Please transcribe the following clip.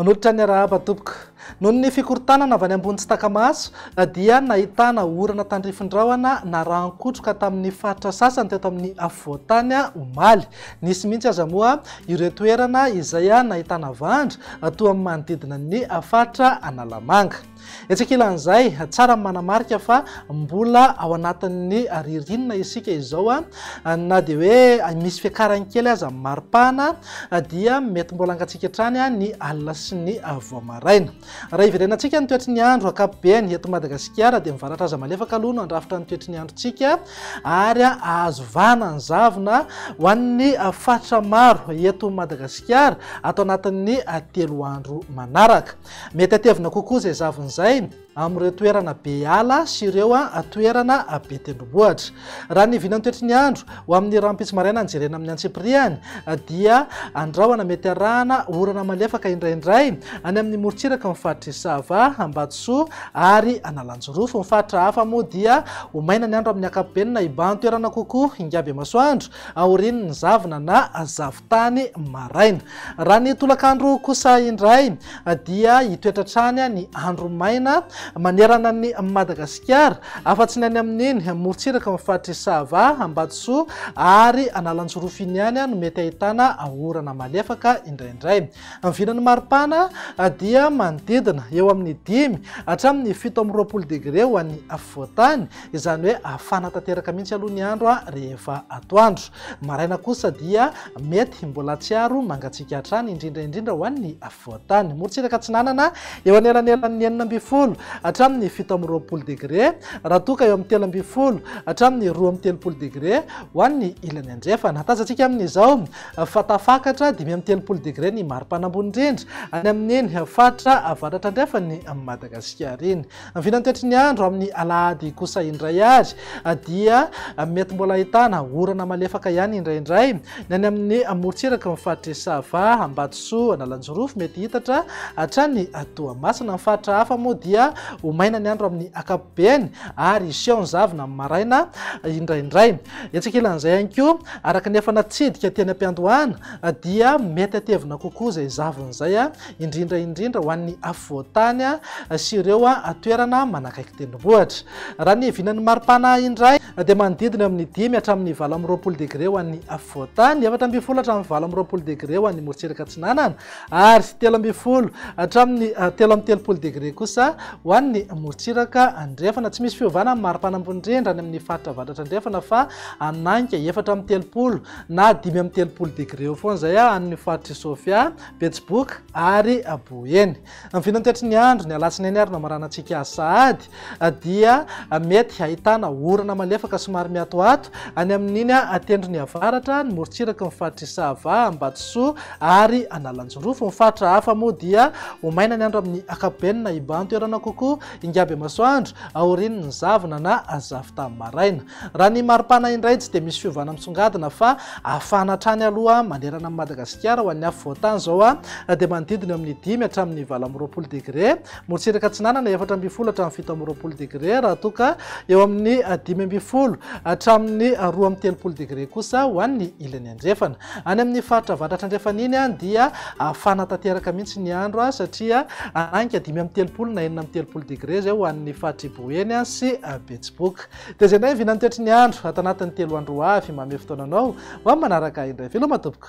Manolotra ny arahaba tompoko. Noho ny fikorontanana avy any ambony tsy taka-maso dia nahitana orana tandrifin-drahona narahan-kotroka tamin'ny faritra sasany teto amin'ny afovoan-tany omaly. Nisy mihitsy aza moa ireo toerana izay nahitana vandry toa amin'ny manodidina ny faritra Analamanga. Etsy ankilan'izay, tsara ny manamarika fa mbola ao anatin'ny ririnina isika izao, na dia hoe misy fiakarany kely aza amin'ny maripana dia mety mbola hangatsiaka hatrany ny alina sy ny vao maraina. Raha iverenantsika ny toetry ny andro ankapobeny eto Madagasikara dia mivaratra aza malefaka aloha no handrafitra ny toetry ny androntsika ary ahazo vahana ny zavona ho an'ny faritra maro eto Madagasikara ato anatin'ny telo andro manaraka. Mety hatevina kokoa izay zavona izay amin'ireo toerana be ala sy ireo toerana be tendrombohitra. Raha ny vinan'ny toetry ny andro, ho amin'ny rahampitso maraina jerena amin'ny antsipiriany, dia andrahona mety harahana orana malefaka indraindray any amin'ny morontsiraka ny faritr'i Sava, Ambatosoa ary Analanjirofo. Ny faritra hafa moa dia ho maina ny andro amin'ny ankapobeny na hibahan-toerana kokoa hingam-be masoandro aorian'ny zavona na zavona. tany maraina. Raha ny tolakandro kosa indray dia hitoetra hatrany ny andro maina manerana an'i Madagasikara, afa-tsy ny any amin'iny morontsiraka ao amin'ny faritr'i Sava, Ambatosoa ary Analanjirofo iny ihany no mety ahitana orana malefaka indraindray. Ny vinan'ny maripana dia manodidina eo amin'ny dimy hatramin'ny fito amby roapolo degre ho an'ny afovoan-tany, Izany hoe hafana tanteraka mihitsy aloha ny andro rehefa atoandro. Maraina kosa dia mety mbola hatsiaro mangatsiaka hatrany, indrindra indrindra ho an'ny afovoan-tany. Morontsiraka atsinanana, eo anelanelan'ny enina ambin'ny folo hatramin'ny fito amby roapolo degre, raha toa ka eo amin'ny telo ambin'ny folo hatramin'ny roa amby telopolo degre ho an'ny ilany andrefana. Hatazantsika amin'izao fa tafakatra dimy amby telopolo degre ny mari-pana ambony indrindra any amin'iny faritra avaratra andrefan'i Madagasikara iny. Vinantetry ny andro amin'ny alahady kosa indray ary dia mety mbola ahitana orana malefaka ihany indraindray ny any amin'ny morontsiraky ny faritr'i Sava, Ambatosoa, Analanjirofo, mety hitatra hatrany Toamasina. Ny faritra hafa moa dia ho maina ny andro amin'ny ankapobeny ary hiseho ny zavona amin'ny maraina indraindray. Etsy ankilan'izay ihany koa, araka ny efa natsidika teny am-piandohana dia mety hatevina kokoa izay zavona izay indrindra indrindra ho an'ny afovoan-tany sy ireo toerana manakaiky tendrombohitra. Raha ny hiavianan'ny maripana indray dia manodidina amin'ny dimy hatramin'ny valo amby roapolo degre ho an'ny afovoan-tany, efatra ambin'ny folo hatramin'ny valo amby roapolo degre ho an'ny morotsiraka atsinanana ary telo ambin'ny folo hatramin'ny telo amby telopolo degre kosa ho an'ny morotsiraka andrefana. Tsy misy fiovana amin'ny maripana ambony indrindra any amin'ny faritra avaratra andrefana fa hanaiky efatra amby telopolo na dimy amby telopolo degre eo foana izay any amin'ny faritry Sofia Betsiboka ary Boeny. Ny vinantetry ny andro, ny alatsinainy ary ny amaranantsika sahady dia mety hahitana orana malefaka somary miatoato any amin'iny tendrony avaratra, ny morontsiraky ny faritry Sava, Ambatosoa ary Analanjirofo. Ny faritra hafa moa dia ho maina ny andro amin'ny ankapobeny na hibantoerana kokoa hingam-bemasoandro aorian'ny zavona na zavon-tany maraina. Raha ny maripana indray tsy dia misy fiovana misongadina fa hafana hatrany aloha manerana an'i Madagasikara ho an'ny afovoan-tany izao dia manodidina eo amin'ny dimy hatramin'ny valo amby roapolo degre, Morotsiraka Atsinanana efatra ambin'ny folo hatramin'ny fito amby roapolo degre raha toa ka eo amin'ny dimy ambin'ny folo hatramin'ny roa amby telopolo degre kosa ho an'ny ilany andrefana. Any amin'ny faritra avaratra andrefana iny dia hafana tanteraka mihitsy ny andro satria hanainga dimy amby telopolo na enina amby telopolo degre izay ho an'ny faritr'i Boeny sy Betsiboka. Dia zay naivy nantetry ny andro ato anatin'ny telo andro ho avy mamehy fotoananao ho amin'ny manaraka ahy indray. Veloma tompoko.